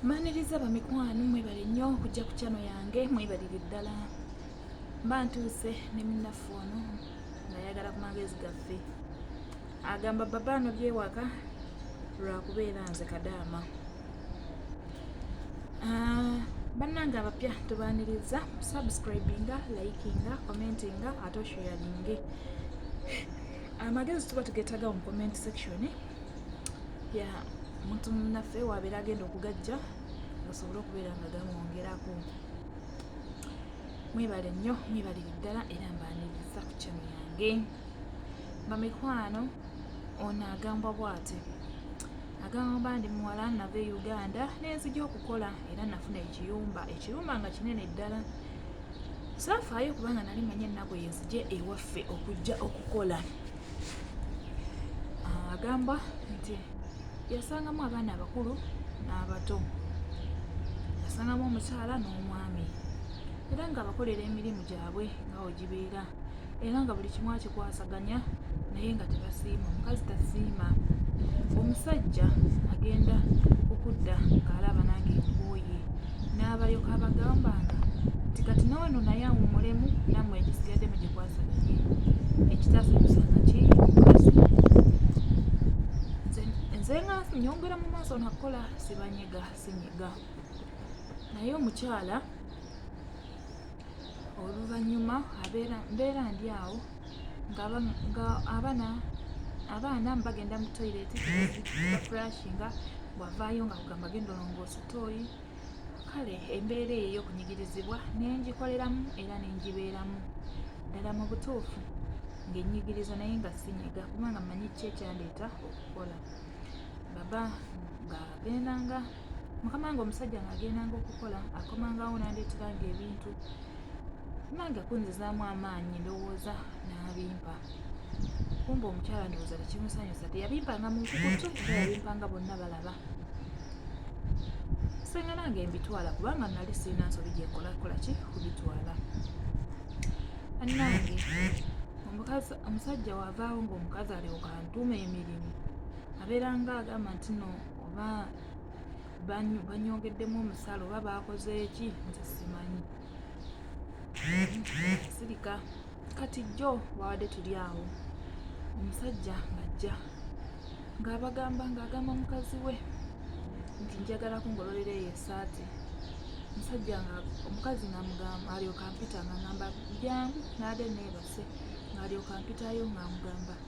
mbaniriza bamikwano mwebale nnyo okujja ku kyano yange mwebalire ddala mba ntuuse ne munnaffe ono ngayagala ku magezi gaffe agamba baba ano byewaka lwakubeera nze kadaama ah, bannange abapya tubaniriza subscribinga likinga commentinga ate oshoyalinge amagezi tuba tugeetaga mu comment section ya muntu munaffe wabeera agenda okugajja osobole okubeera nga gamwongerako mwebale nnyo mwebalire ddala era mbaniriza ku kyano yange bamikwano ono agambwa bwati agamba ndi muwala nava e uganda nenzija okukola era nafuna ekiyumba ekirumba nga kinene ddala saafaayo kubanga nali manyi ennaku yenzije ewaffe okujja okukola ah, agamba nti yasangamu abaana abakulu n'abato yasangamu omukyala n'omwami era nga abakolera emirimu gyabwe nga wegibeera era nga buli kimu akikwasaganya naye nga tebasiima omukazi tasiima omusajja agenda okudda ng'alaba nange nkooye n'abalyoka abagamba nga nti kati noono naye awumulemu namwe egisigadde mu gikwasaganye ekitasanyusa kaki mukazi nze nga nyongera mu maaso nakukola sibanyega sinyiga naye omukyala oluvannyuma mbeera ndi awo nga abana abaana bagenda mu toilet bafurashinga bwavaayo nga kugamba genda olongoosa tooyi kale embeera eyo ey'okunyigirizibwa nengikoleramu era nengibeeramu ddala mu butuufu ng'ennyigiriza naye nga sinyiga kubanga manyi ki ekyandeeta okukola baba nga agendanga mukama wange omusajja ng'agendanga okukola akomangawo nandeeteranga ebintu nange kunzizaamu amaanyi ndowooza n'abimpa kumba omukyala ndowooza tekimusanyusa teyabimpanga mu nkukutu era yabimpanga bonna balaba senga nange mbitwala kubanga nali sirina nsobi gyenkolakola ki kubitwala anange omusajja wavaawo ngaomukazi alyoka ntuuma emirimu abeeranga agamba nti no oba banyongeddemu omusala oba baakoze eki nze simanyi sirika kati jjo wawadde tuli awo omusajja ng'ajja ng'abagamba ng'agamba mukazi we nti njagala kungololera eyo esaati omusajja nga omukazi ngamugamba alyoka mpita ngangamba jangu naade neebase ng'alyoka mpitayo ng'amugamba nga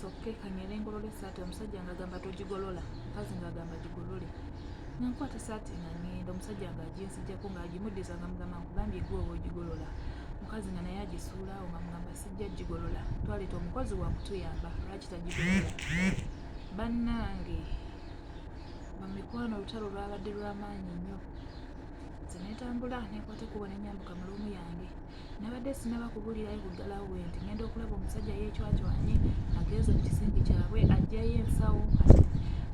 soke kanyere ngolole saati omusajja nga agamba togigolola mukazi nga agamba gigolole nankwata saati nga ngenda omusajja nga aginsijjako nga agimuddiza nga mugamba nkugambye gwe oba ogigolola mukazi nga naye agisuulawo nga mugamba sijja gigolola twaleeta omukozi wakutuyamba lwaki tagigolola bannange bamikwano olutalo lwabadde lwamaanyi nnyo nze netambula nekwata kuba nenyambuka mulumu yange nabadde sinaba kubulirayo kugala we nti ngenda okulaba omusajja yeecwacwanye agenze mu kisimbi kyabwe ajjayo ensawo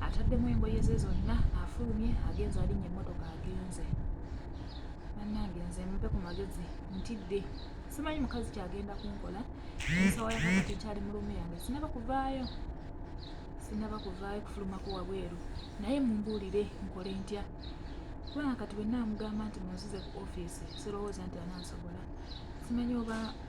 ataddemu engoye ze zonna afulumye agenze alinnya emmotoka agenze bannange nze mupe ku magezi ntidde simanyi mukazi kyagenda kunkola ensawo yakakati kyali mu luumu yange sinaba kuvaayo sinaba kuvaayo kufulumako wabweru naye mumbuulire nkole ntya kubanga kati bwe namugamba nti munzize ku ofiisi sirowooza nti anansobola simanyi oba